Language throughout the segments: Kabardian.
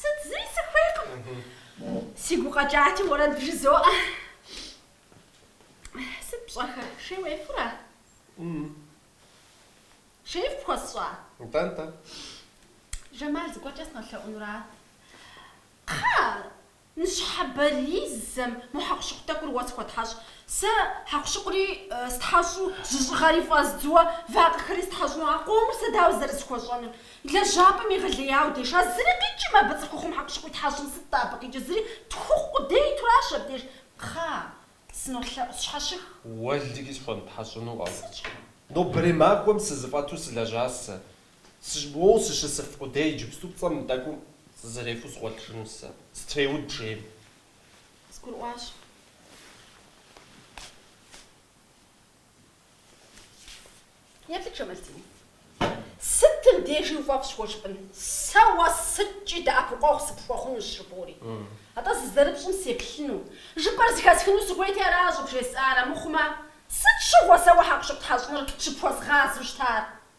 Сыт зыри сыхуейкъым. Сигу къэкӏати уэрэд бжызоӏэ. Сыт пщӏэхэр, шей уефура? Шей пхуэсщӏа? Нтӏэ, нтӏэ. Жэмал зыгуэркӏэ сынолъэӏунура? Кхъэ, ныщхьэбэризэм мо хьэкъущыкъу тӏэкӏур уэ схуэтхьэщӏ. Сэ хьэкъущыкъури стхьэщӏу, жьыщӏыгъэри фӏэздзуэ, вакъэхэри стхьэщӏу, а къомыр сэ дауэ зэрысхуэщӏэнур? Лэжьапӏэм егъэлеяуэ деш, а зыри къикӏым абы цӏыхухъум хьэкъущыкъу итхьэщӏым, сыт-тӏэ абы къикӏыр, зыри тху хъу къудей итуращ абдеж. Кхъэ, сынолъэӏу, сщхьэщых. Уэлэхьи схуэмытхьэщӏыну. Сытщӏэ? Нобэрей махуэм сызэфӏэту сылэжьащ сэ. Сыщ, моуэ сыщысыф къудей иджыпсту пцӏэм мы тӏэкӏум сызэрефу сыгъуэлъыжынущ сэ, сытреуд жейм. Сгурыӏуащ. Еплъыт Жэмалдин. Сытым дежи уфӏэфӏщ уэ жыпӏэн. Сэ уэ сыткӏи дэӏэпыкъуэгъу сыпхуэхъунущ жыпӏэури. Атӏэ зызэрыпщӏым сеплъыну. Жыпӏэр зэхэсхыну сыхуейти ара щӏыбжесӏар? Амыхъумэ, сыт щыгъуэ сэ уэ хьэкъущыкъу тхьэщӏыныр щыпхуэзгъазэу щытар?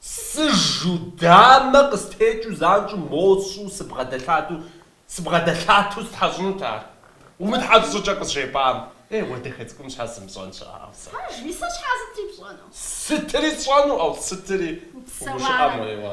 Сыжу, дамэ къыстекӏыу занщӏэу мощӏу сыбгъэдэлъатэу, сыбгъэдэлъатэу стхьэщӏынут ар, умытхьэщӏ щӏыкӏэ къызжепӏам. Ей, уэ дахэ цӏыкӏум щхьэ сымыщӏэн щыӏэу сэ? Пэжми, сэ щхьэ сытри пщӏэну? Сытри сщӏэну, ӏэу, сытри? Псэуарэ. Гушыӏэ моуэ.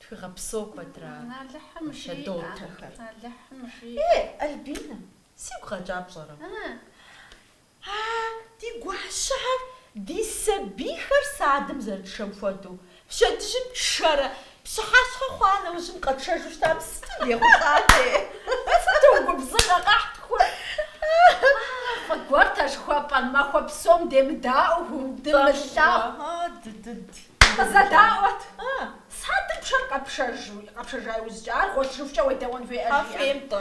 Тхыгъэ псо куэдра щэдотэхэр. Е, Альбинэ, сигу къэкӏа пщӏэрэ? А ди гуащэхэр, ди сабийхэр садым зэрытшэм хуэдэу, пщэдджым тшэрэ, пщыхьэщхьэ хъуа нэужьым къэтшэжу щытам сыту дехъулӏатэ! Сыту губзыгъэ къэхьтхур! Фӏы гуэрт а жыхуэпӏэр, махуэ псом демыдаӏуэу, дымылъагъуу. Дыдыд. Къызэдаӏуэт, садым пшэрэ къэпшэжу, къэпшэжа иужькӏэ, ар гъуэлъыжыхукӏэ уедэӏуэн хуейӏэ, жиӏэт.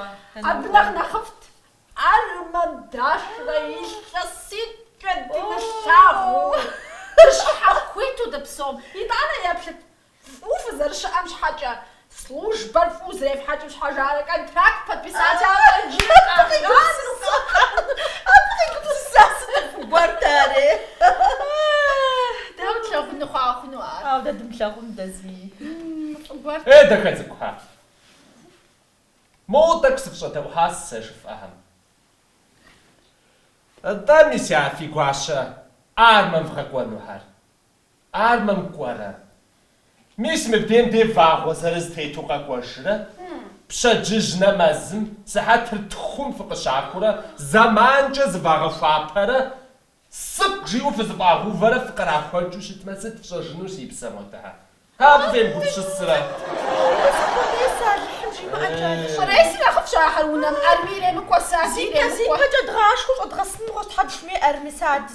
Абы нэхъ нэхъыфӏт, армэм дашрэ илъэситӏкӏэ дымылъагъуу, дыщхьэхуиту дыпсом. Итӏанэ еплъыт, фӏыуэ фызэрыщыӏэм щхьэкӏэ, Службэр фӏыуэ зэрефхьэкӏым щхьэ жаӏэрэ контракт подписати афӏэкӏи къагъазэру къэхъуар. Абы къигупсыса сыту фӏы гуэрт ари? Дауэ тлъагъуну хъуа хъуну ар? Ауэ дэ дымылъагъуну дэ зи фӏыгуэрт. Е дахэ цӏыкӏухэ! Моуэ тӏэкӏу сыфщӏэдэӏухьащ сэ жыфӏэхэм. Атӏэ, мис а фи гуащэ армэм вгъэкӏуэнухэр? Армэм кӏуэрэ? Мис мыбдейм де вагъуэ зырыз тету къэкӏуэжрэ? Пщэдджыжь нэмэзым, сыхьэтыр тхум фыкъыщӏахурэ, зэманкӏэ зывагъэхуапэрэ, сыкӏу жиӏэу фызэфӏагъэувэрэ фыкърахуэкӏыу щытмэ, сыт фщӏэжыну, си псэ модыхьэ? Абы фемыгупсысрэ? Ӏуэху къудей сэ Алыхьым жимыӏэкӏэ, Щӏырейси нэхъыфӏщ ахэр унэм, армэ иремыкӏуэ, сэ абы иремыкӏуэ. Зипэ-зипэкӏэ дгъашхэу щӏэдгъэсынугъэщ Тхьэм жыхуиӏэр, мис ар ди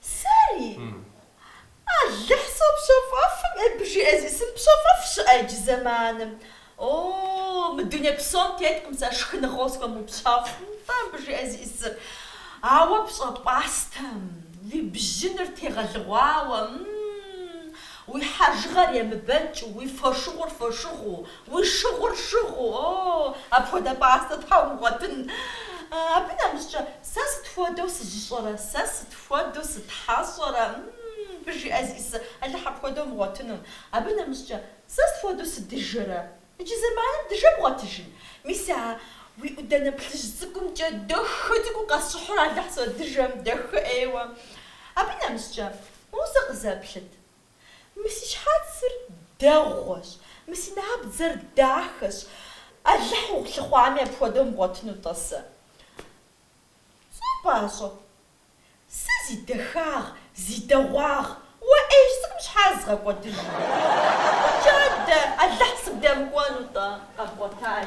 Сэри? Алыхь сопщэфӏэфым, абы жиӏэ зиӏысым, пщэфӏэф щыӏэ иджы зэманым? О, мы дуней псом теткъым сэ шхыныгъэу схуэмыупщэфӏым нтӏэ абы жиӏэ зиӏысыр. Ауэ пщӏэ пӏастэм, уи бжьыныр тегъэлыгъуауэ, м-м-м, уи хьэжыгъэр емыбэкӏыу, уи фошыгъур фошыгъуу, Уи шыгъур шыгъуу, о, апхуэдэ пӏастэ тхьэ умыгъуэтын. Абы нэмыщӏкӏэ, сэ сыт хуэдэу сыжьыщӏэрэ, сэ сыт хуэдэу сытхьэщӏэрэ, м-м, абы жиӏэ зиӏысыр, Алыхь апхуэдэ умыгъуэтыну. Абы нэмыщӏкӏэ, сэ сыт хуэдэу сыдыжэрэ, иджы зэманым дыжэ бгъуэтыжын. Мис а уи ӏудэнэ плъыжь цӏыкӏумкӏэ дахэ цӏыкӏуу къэсщӏыхьурэ Алыхь содыжэ, дахэ ӏейуэ. Абы нэмыщӏкӏэ, моуэ сэ къызэплъыт, Мы си щхьэцыр дэгъуэщ, мы си набдзэр дахэщ, Алыхь улъыхъуами апхуэдэ умыгъуэтыну тӏэ сэ. Цӏыху пӏащӏэ. Сэ зи дахагъ, зи дэгъуагъ, уэ ӏейщ цӏыкӏум щхьэ згъэкӏуэдыжу? Абыкӏэ дэ Алыхь сыбдэмыкӏуэнутӏэ? Къэбгъуэтаи.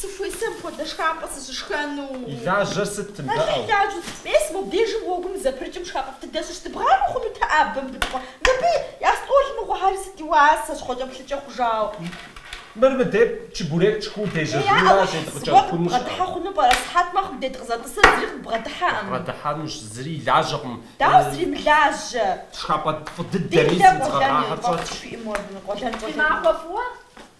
Сыхуейт апхуэдэ шхапӏэ сыщышхэну. И лажьэр сыт, тындэӏэу? Лажьэ сыт? Мис мобдежым гъуэгум зэпрыкӏым шхапӏэфӏ дыдэ щыӏэщ, дыбгъауи хъунут абы мыбы дыкӏуэ. Мыбы я стӏол мыгъуэхьэри сыт ди уасэщ, хъуэкӏэплъыкӏэ хъужауэ. Мыр мыдеп, чебурек тшхуу дежьэжынура, зедгъыкӏэ хъуну щыӏэ? Бгъэдыхьэ хъуну пӏэрэ? Сыхьэт мэхъу, дыкъызэрытӏысрэ зыри къыбгъэдыхьэкъым. Къыбгъэдыхьэнущ, зыри илажьэкъым. Дауэ зыри имылажьэ? Шхапӏэ фӏы дыдэми зидзгъэгъахьэр щӏэтщ. Къуэлэн щӏэлэнуи. Фи махуэ фӏыуэ?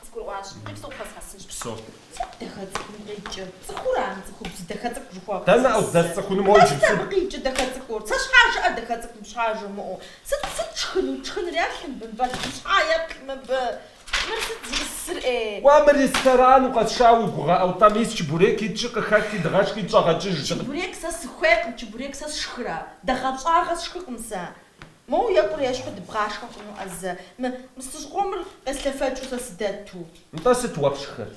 Къызгурыӏуащ, иджыпсту къэзгъэсынщ. Псо. Цӏыху дахэ цӏыкӏум къикӏыр. Цӏыхура ар, цӏыхубз дахэ цӏыкӏу жыхуэпӏэр? Дэнэ къыздэсцӏыхунур уэ иджыпсту? Сыт абы къикӏыр дахэ цӏыкӏур? Сэ щхьэкӏэ дахэ цӏыкӏум щхьа жумыӏэу? Сыт, сыт шхынур? Тшхыныр ятлъым бынвал жьы щхьа еплъ мыбы? Мыр сыт зиӏысыр ӏей? Уа, мыр ресторан укъэсшауэ уи гугъэ ӏэу тӏэ мис чебурек итщи къыхэти дыгъэшхи дыщӏэгъэкӏыж. Чебурек сэ сыхуейкъым, чебурек сэ сшхырэ? Дагъэ щӏагъуэ сшхыкъым сэ. Моу екӏуу ещхьу дыбгъашхэ хъунуӏэ зэ, мы мстыщӏ къомыр къеслъэфэкӏыу сэ сыдэту. Нтӏэ сыт уэ пшхыр?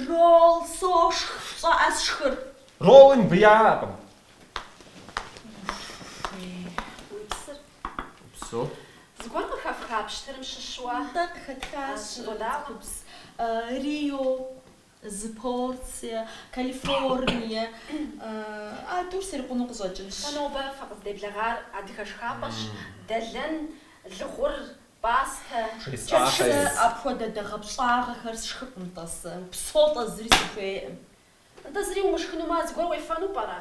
Ролл сошх, пщӏэӏэ сшхыр. Ролли мыбы яӏэкъым. Уи псыр? Упсэу. Зыгуэр къыхэфха пщтырым щыщу. Нтӏэ къыхэтхащ цӏыхубз. Рио. Зы порцие Калифорние а тӏур срикъуну къыщӏэкӏынщ. Сэ нобэ фыкъыздеблэгъар адыгэ шхапӏэщ, дэлэн, лыгъур, пӏастэ, чэчыцэ. Сэ апхуэдэ дэгъэпщӏагъэхэр сшхыфӏым-тӏэ сэ, упсэу, тӏэ зыри сыхуейкъым. Нтӏэ зыри умышхынумэ зыгуэр уефэну пӏэрэ?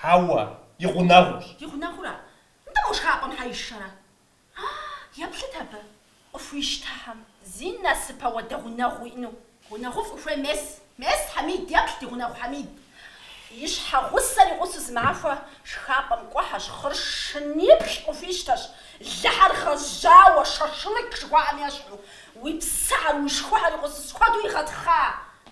Хьэуэ, и гъунэгъущ. И гъунэгъура? Нтӏэ мо шхапӏэм щхьэ ишэрэ? А-а, еплъыт абы. Къыхуищтэхьэм. Зи насып апхуэдэ гъунэгъу уиӏэну. Гъунэгъуфӏ ухуей мес? Мес, Хьэмид, еплъ, ди гъунэгъу Хьэмид. И щхьэгъусэр игъусу зы махуэ шхапӏэм кӏуэхьэщ, хъыршыныплӏ къыхуищтэщ, лыхьэр гъэжьауэ, шашлык жыхуаӏэм ещхьу. Уи псыхьэр, уи шхухьэр игъусу сыт хуэдэу игъэтхъа?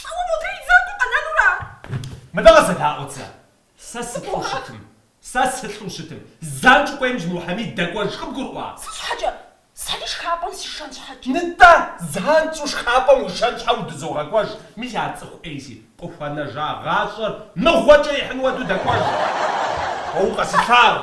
Лӏо модрей и закъуэ къэнэнура? Мыдэ къызэдаӏуэт сэ. Сэ сылӏу щытым. Сэ сылӏу щытым. Занщӏэу кӏуэи иджы мо Хьэмид дэкӏуэж къыбгурыӏуа? Сыт щхьэкӏэ? Сэри шхапӏэм сишэн щхьэкӏэ. Нытӏэ, занщӏэу шхапӏэм уишэн щхьэ удызогъэкӏуэж. Мис а цӏыху ӏейси, къыхуэнэжа гъащӏэр мыгъуэкӏэ ихьын хуэдэу дэкӏуэж. Уэ укъэсылъагъу.